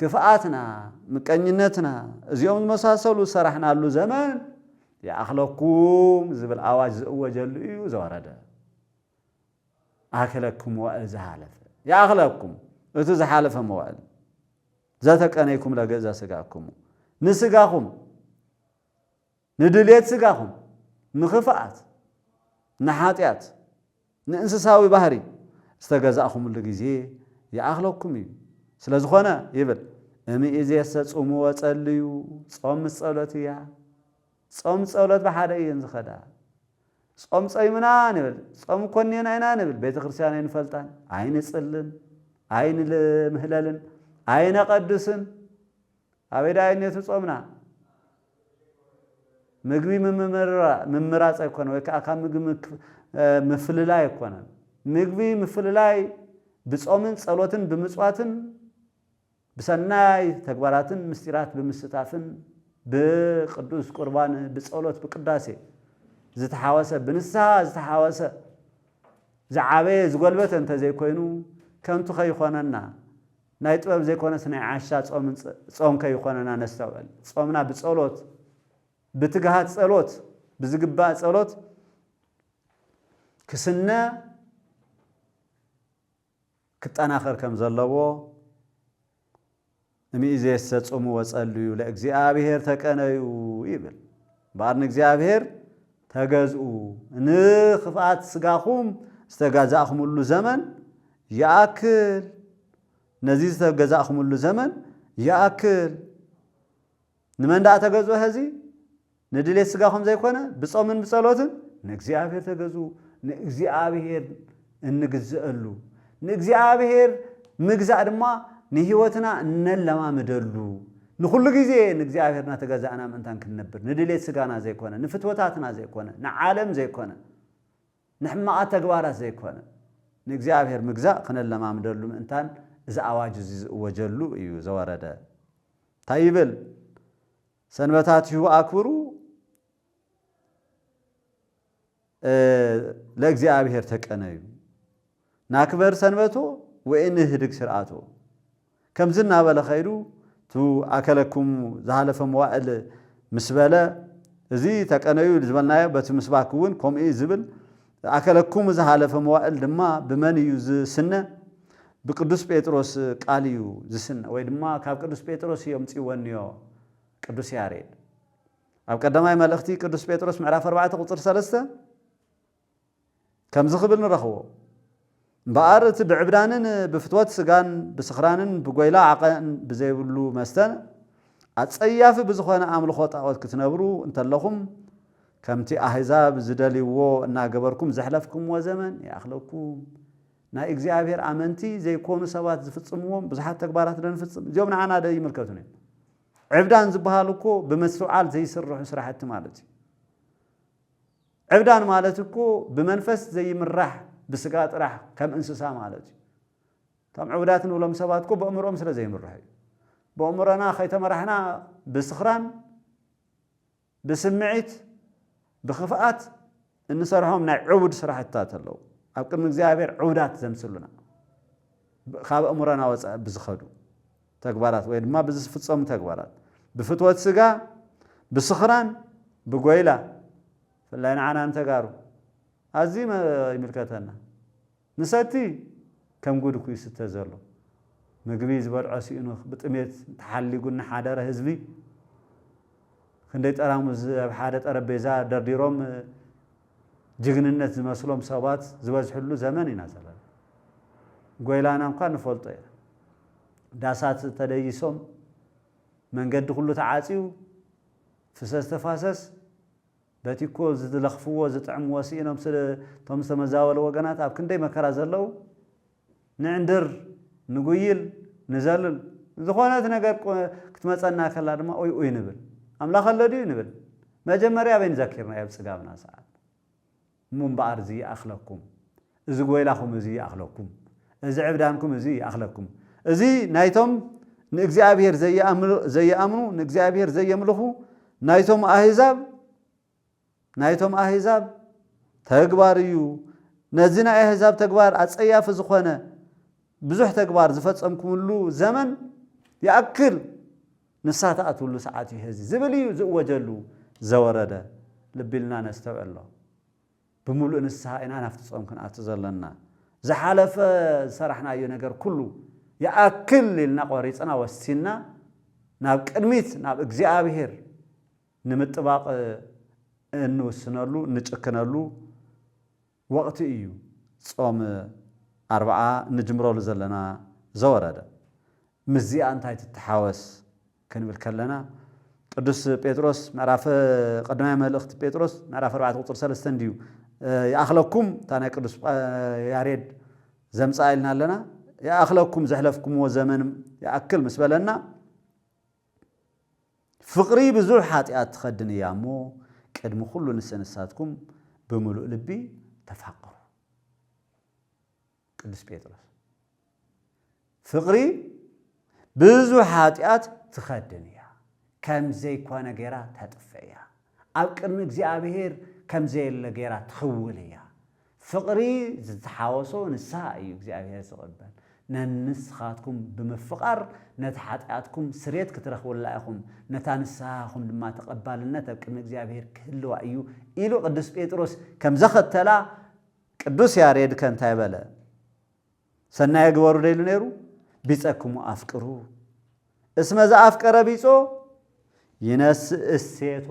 [SPEAKER 1] ክፍኣትና፣ ምቀኝነትና፣ እዚኦም ዝመሳሰሉ ዝሰራሕናሉ ዘመን ይኣኽለኩም ዝብል ኣዋጅ ዝእወጀሉ እዩ ዘወረደ። ኣክለኩም መዋእል ዝሃለፈ። ይኣኽለኩም እቲ ዝሓለፈ መዋእል። ዘተቀነይኩም ለገእዛ ስጋኩሙ። ንስጋኹም። ንድሌት ስጋኹም፣ ንኽፍኣት፣ ንሓጢኣት፣ ንእንስሳዊ ባህሪ ዝተገዛእኹምሉ ግዜ ይኣኽለኩም እዩ። ስለ ዝኾነ ይብል እምይእዜሰ ጹሙ ወጸልዩ፣ ጾም ምስ ጸሎት እያ። ጾም ጸሎት ብሓደ እየን ዝኸዳ። ጾም ጾይምና ንብል፣ ጾም ኮኔና ኢና ንብል፣ ቤተ ክርስቲያን ኣይንፈልጣን፣ ኣይንጽልን፣ ኣይንምህለልን፣ ኣይነቐድስን። ኣበይ ደኣ እዩ ኔቱ ጾምና? ምግቢ ምምራጽ ኣይኮነን ወይ ከኣ ካብ ምግቢ ምፍልላይ ኣይኮነን። ምግቢ ምፍልላይ ብጾምን ጸሎትን ብምጽዋትን ብሰናይ ተግባራትን ምስጢራት ብምስታፍን ብቅዱስ ቁርባን ብጸሎት ብቅዳሴ ዝተሓወሰ ብንስሓ ዝተሓወሰ ዝዓበየ ዝጎልበተ እንተዘይኮይኑ ከንቱ ከይኾነና ናይ ጥበብ ዘይኮነስ ናይ ዓሻ ጾምን ጾም ከይኾነና ነስተውዕል ጾምና ብጸሎት ብትግሃት ጸሎት ብዝግባእ ጸሎት ክስነ ክጠናኸር ከም ዘለዎ እምይእዜሰ ጹሙ ወጸልዩ ለእግዚኣብሔር ተቀነዩ ይብል እምበኣር ንእግዚኣብሔር ተገዝኡ፣ ን ኽፍኣት ስጋኹም ዝተጋዛእኽምሉ ዘመን ይኣክል፣ ነዚ ዝተገዛእኽምሉ ዘመን ይኣክል። ንመን ደኣ ተገዝኡ ሐዚ? ንድሌት ስጋኹም ዘይኮነ ብጾምን ብጸሎትን ንእግዚኣብሔር ተገዝኡ፣ ንእግዚኣብሔር። እንግዘእሉ፣ ንእግዚኣብሔር ምግዛእ ድማ ንሕይወትና እነለማምደሉ፣ ንኹሉ ጊዜ ንእግዚኣብሔር እናተገዛእና ምእንታን ክንነብር፣ ንድሌት ሥጋና ዘይኮነ፣ ንፍትወታትና ዘይኮነ፣ ንዓለም ዘይኮነ፣ ንሕማቓት ተግባራት ዘይኮነ፣ ንእግዚኣብሔር ምግዛእ ክነለማምደሉ ምእንታን እዚ ኣዋጅ እዚ ዝእወጀሉ እዩ ዘወረደ። እንታይ ይብል? ሰንበታቲሁ ኣክብሩ፣ ለእግዚኣብሔር ተቀነዩ ናክበር ሰንበቶ ወኢንህድግ ስርዓቶ ከምዚ እናበለ ከይዱ እቱ ኣከለክሙ ዝሃለፈ መዋእል ምስ በለ እዚ ተቀነዩ ዝበልናዮ በቲ ምስባክ እውን ከምኡ እዩ ዝብል ኣከለክሙ ዝሃለፈ መዋእል ድማ ብመን እዩ ዝስነ ብቅዱስ ጴጥሮስ ቃል እዩ ዝስነ ወይ ድማ ካብ ቅዱስ ጴጥሮስ እዮምፅወንዮ ቅዱስ ያሬድ ኣብ ቀዳማይ መልእኽቲ ቅዱስ ጴጥሮስ ምዕራፍ ኣርባዕተ ቁጽሪ ሰለስተ ከምዚ ክብል ንረኽቦ፣ እምበኣር እቲ ብዕብዳንን ብፍትወት ስጋን ብስኽራንን ብጐይላ ዓቐን ብዘይብሉ መስተን ኣጸያፊ ብዝኾነ ኣምልኾ ጣኦት ክትነብሩ እንተለኹም ከምቲ ኣህዛብ ዝደልይዎ እናገበርኩም ዘሕለፍክምዎ ዘመን ይኣኽለኩም። ናይ እግዚኣብሔር ኣመንቲ ዘይኮኑ ሰባት ዝፍጽምዎም ብዙሓት ተግባራት ዶ ንፍጽም? እዚኦም ንዓና ዶ ኣይምልከቱን እዮም? ዕብዳን ዝበሃል እኮ ብመስትውዓል ዘይስርሑ ስራሕቲ ማለት እዩ። ዕብዳን ማለት እኮ ብመንፈስ ዘይምራሕ ብስጋ ጥራሕ ከም እንስሳ ማለት እዩ። እቶም ዕቡዳት ንብሎም ሰባት እኮ በእምርኦም ስለ ዘይምርሑ እዩ። በእምሮና ከይተመራሕና ብስኽራን ብስምዒት ብክፍኣት እንሰርሖም ናይ ዕቡድ ስራሕትታት ኣለዉ ኣብ ቅድሚ እግዚኣብሔር ዕቡዳት ዘምስሉና ካብ ኣእምሮና ወፃኢ ብዝኸዱ ተግባራት ወይ ድማ ብዝፍፀሙ ተግባራት ብፍትወት ስጋ ብስኽራን ብጎይላ ብፍላይ ንዓና ንተጋሩ ኣዝዩ ይምልከተና ንሰቲ ከም ጉድ'ኩ ይስተ ዘሎ። ምግቢ ዝበልዖ ሲኢኑ ብጥሜት ተሓሊጉ እናሓደረ ህዝቢ ክንደይ ጠራሙዝ ኣብ ሓደ ጠረጴዛ ደርዲሮም ጅግንነት ዝመስሎም ሰባት ዝበዝሕሉ ዘመን ኢና ዘለና። ጎይላና እንኳ ንፈልጦ ኢና። ዳሳት ተደይሶም፣ መንገዲ ኩሉ ተዓጽዩ፣ ፍሰስ ተፋሰስ፣ በቲኮ ዝለኽፍዎ ዝጥዕምዎ ስኢኖም ስለ እቶም ዝተመዛበሉ ወገናት ኣብ ክንደይ መከራ ዘለዉ ንዕንድር ንጉይል ንዘልል ዝኾነት ነገር ክትመጸና ከላ ድማ ኡይ ኡይ ንብል ኣምላኽ ኣሎ ድዩ ንብል መጀመርያ ኣበይ ንዘኪርናዮ ኣብ ጽጋብና ሰዓት እሞ እምበኣር ዝይኣኽለኩም እዚ ጐይላኹም እዚ ይኣኽለኩም፣ እዚ ዕብዳንኩም እዚ ይኣኽለኩም። እዚ ናይቶም ንእግዚኣብሄር ዘይኣምኑ፣ ንእግዚኣብሄር ዘየምልኹ ናይቶም ኣህዛብ፣ ናይቶም ኣህዛብ ተግባር እዩ። ነዚ ናይ ኣህዛብ ተግባር ኣጸያፊ ዝኾነ ብዙሕ ተግባር ዝፈጸምኩምሉ ዘመን ይኣክል፣ ንስሓ ትኣትውሉ ሰዓት እዩ ሔዚ ዝብል እዩ ዝእወጀሉ ዘወረደ። ልቢ ኢልና ነስተውዕሎ። ብምሉእ ንስሓ ኢና ናብቲ ጾም ክንኣቱ ዘሎና። ዝሓለፈ ዝሰራሕናዮ ነገር ኩሉ ይኣክል ኢልና ቆሪጽና ወሲንና ናብ ቅድሚት ናብ እግዚኣብሄር ንምጥባቕ እንውስነሉ እንጭክነሉ ወቕቲ እዩ ጾም ኣርብዓ እንጅምረሉ ዘለና ዘወረደ ምስዚኣ እንታይ ትተሓወስ? ክንብል ከለና ቅዱስ ጴጥሮስ ምዕራፍ ቀዳማይ መልእኽቲ ጴጥሮስ ምዕራፍ 4 ቁፅሪ 3 እንድዩ ይኣኽለኩም እታ ናይ ቅዱስ ያሬድ ዘምፅኣ ኢልና ኣለና ይኣኽለኩም ዘሕለፍኩምዎ ዘመን ይኣክል ምስ በለና ፍቕሪ ብዙሕ ሓጢኣት ትኸድን እያ እሞ ቅድሚ ኩሉ ንሰንሳትኩም ብምሉእ ልቢ ተፋቕሩ ቅዱስ ጴጥሮስ ፍቕሪ ብዙ ኃጢኣት ትኸድን እያ፣ ከም ዘይኮነ ገይራ ተጥፍእ እያ፣ ኣብ ቅድሚ እግዚኣብሔር ከም ዘየለ ገይራ ትኽውል እያ። ፍቕሪ ዝተሓወሶ ንስሓ እዩ እግዚኣብሔር ዝቕበል። ነንስኻትኩም ብምፍቓር ነቲ ኃጢኣትኩም ስርየት ክትረኽቡላ ኢኹም፣ ነታ ንስሓኹም ድማ ተቐባልነት ኣብ ቅድሚ እግዚኣብሔር ክህልዋ እዩ ኢሉ ቅዱስ ጴጥሮስ ከም ዘኸተላ ቅዱስ ያሬድ ከ እንታይ በለ? ሰናየ ግበሩ ዶ ኢሉ ነይሩ? ቢጸክሙ ኣፍቅሩ እስመ ዘኣፍቀረ ቢጾ ይነስእ እሴቶ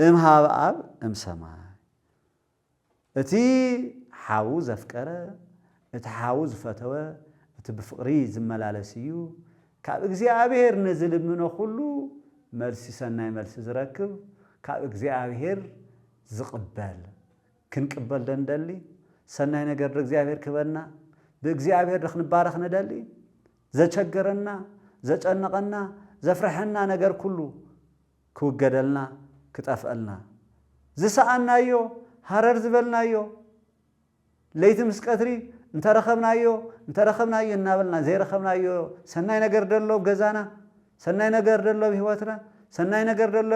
[SPEAKER 1] እምሃብ ኣብ እምሰማይ እቲ ሓዉ ዘፍቀረ እቲ ሓዉ ዝፈተወ እቲ ብፍቕሪ ዝመላለስ እዩ ካብ እግዚኣብሔር ንዝልምኖ ኩሉ መልሲ ሰናይ መልሲ ዝረክብ ካብ እግዚኣብሔር ዝቕበል ክንቅበል ዶ ንደሊ? ሰናይ ነገር ዶ እግዚኣብሔር ክህበና? ብእግዚኣብሔር ዶ ክንባረኽ ንደሊ? ዘቸገረና፣ ዘጨነቐና፣ ዘፍረሐና ነገር ኩሉ ክውገደልና፣ ክጠፍእልና፣ ዝሰኣንናዮ፣ ሃረር ዝበልናዮ፣ ለይቲ ምስ ቀትሪ እንተ ረኸብናዮ እንተ ረኸብናዮ እናበልና ዘይረኸብናዮ ሰናይ ነገር ዶ ኣሎ ኣብ ገዛና? ሰናይ ነገር ዶ ኣሎ ኣብ ህይወትና? ሰናይ ነገር ዶ ኣሎ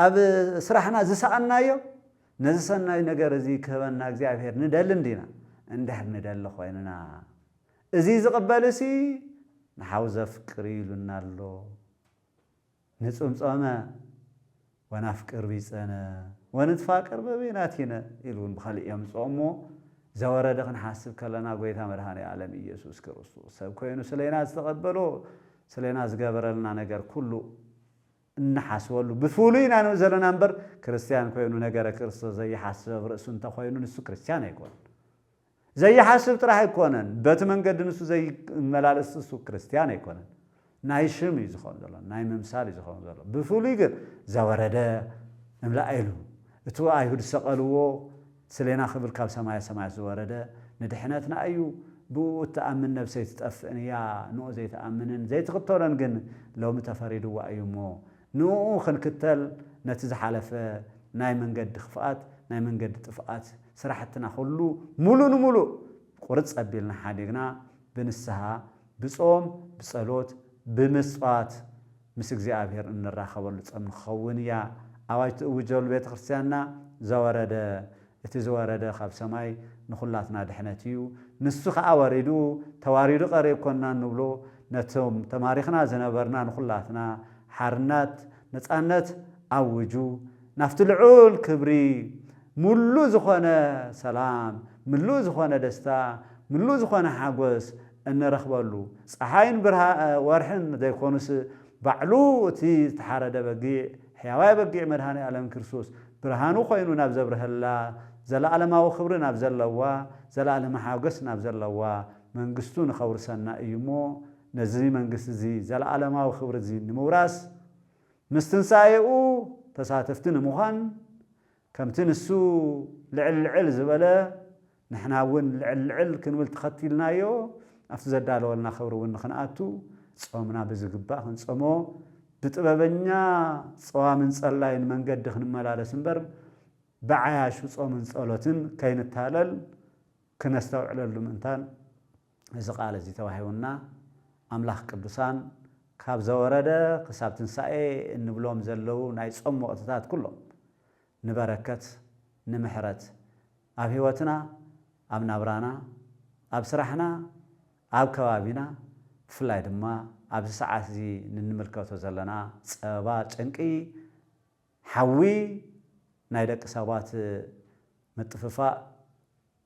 [SPEAKER 1] ኣብ ስራሕና ዝሰኣንናዮ? ነዚ ሰናይ ነገር እዚ ክህበና እግዚኣብሄር ንደሊ እንዲና? እንድሕር ንደሊ ኮይንና እዚ ዝቕበልሲ ንሓው ዘፍቅር እዩ ኢሉና ኣሎ። ንጽምጾመ ወናፍቅር ቢጸነ ወንትፋቅር በበይናቲነ ኢሉ እውን ብኸልእ የምጽኦ እሞ ዘወረደ ክንሓስብ ከለና ጎይታ መድኃኔ ዓለም ኢየሱስ ክርስቶስ ሰብ ኮይኑ ስለና ዝተቐበሎ ስለና ዝገበረልና ነገር ኩሉ እንሓስበሉ ብፍሉይ ኢና ንብል ዘለና እምበር ክርስቲያን ኮይኑ ነገረ ክርስቶስ ዘይሓስብ ኣብ ርእሱ እንተኾይኑ ንሱ ክርስቲያን ኣይኮነን ዘይሓስብ ጥራሕ ኣይኮነን በቲ መንገዲ ንሱ ዘይመላለስ እሱ ክርስትያን ኣይኮነን ናይ ሽም እዩ ዝኸውን ዘሎ ናይ ምምሳል እዩ ዝኸውን ዘሎ ብፍሉይ ግን ዘወረደ እምላእ ኢሉ እቲ ኣይሁድ ዝሰቐልዎ ስሌና ክብል ካብ ሰማያ ሰማያት ዝወረደ ንድሕነትና እዩ ብእኡ እትኣምን ነብሰይ ትጠፍእን እያ ንኡ ዘይትኣምንን ዘይትኽተሎን ግን ሎሚ ተፈሪድዋ እዩ እሞ ንእኡ ክንክተል ነቲ ዝሓለፈ ናይ መንገዲ ክፍኣት ናይ መንገዲ ጥፍኣት ስራሕትና ኩሉ ሙሉእ ንሙሉእ ቁርፅ ኣቢልና ሓዲግና ብንስሃ ብፆም ብፀሎት ብምፅዋት ምስ እግዚኣብሔር እንራኸበሉ ፀም ንክኸውን እያ ኣዋጅ ትእውጀሉ ቤተክርስትያንና ዘወረደ እቲ ዝወረደ ኻብ ሰማይ ንዅላትና ድሕነት እዩ፣ ንሱ ኸኣ ወሪዱ ተዋሪዱ ቀሪብኮና እንብሎ ነቶም ተማሪኽና ዝነበርና ንዅላትና ሓርነት ነጻነት ኣውጁ ናብቲ ልዑል ክብሪ ምሉእ ዝኾነ ሰላም ምሉእ ዝኾነ ደስታ ምሉእ ዝኾነ ሓጐስ እንረኽበሉ ጸሓይን ወርሕን ዘይኮኑስ ባዕሉ እቲ ዝተሓረደ በጊዕ ሕያዋይ በጊዕ መድኃኔ ዓለም ክርስቶስ ብርሃኑ ኮይኑ ናብ ዘብርሀላ ዘለዓለማዊ ክብሪ ናብ ዘለዋ ዘለዓለማዊ ሓጐስ ናብ ዘለዋ መንግሥቱ ንኸውርሰና እዩ እሞ ነዚ መንግሥቲ እዚ ዘለዓለማዊ ክብሪ እዚ ንምውራስ ምስ ትንሣኤኡ ተሳተፍቲ ንምዃን ከምቲ ንሱ ልዕል ልዕል ዝበለ ንሕና እውን ልዕል ልዕል ክንብል ተኸቲልናዮ ኣብቲ ዘዳለወልና ክብሪ እውን ንኽንኣቱ ፆምና ብዝግባእ ክንፀሞ ብጥበበኛ ፀዋምን ፀላይን መንገዲ ክንመላለስ እምበር ብዓያሹ ፆምን ፀሎትን ከይንታለል ክነስተውዕለሉ ምእንታን እዚ ቃል እዚ ተዋሂቡና ኣምላኽ ቅዱሳን ካብ ዘወረደ ክሳብ ትንሳኤ እንብሎም ዘለዉ ናይ ጾም ወቕትታት ኩሎም ንበረከት ንምሕረት ኣብ ሕይወትና ኣብ ናብራና ኣብ ስራሕና ኣብ ከባቢና ብፍላይ ድማ ኣብዚ ሰዓት እዚ ንንምልከቶ ዘለና ጸበባ ጭንቂ ሓዊ ናይ ደቂ ሰባት ምጥፍፋእ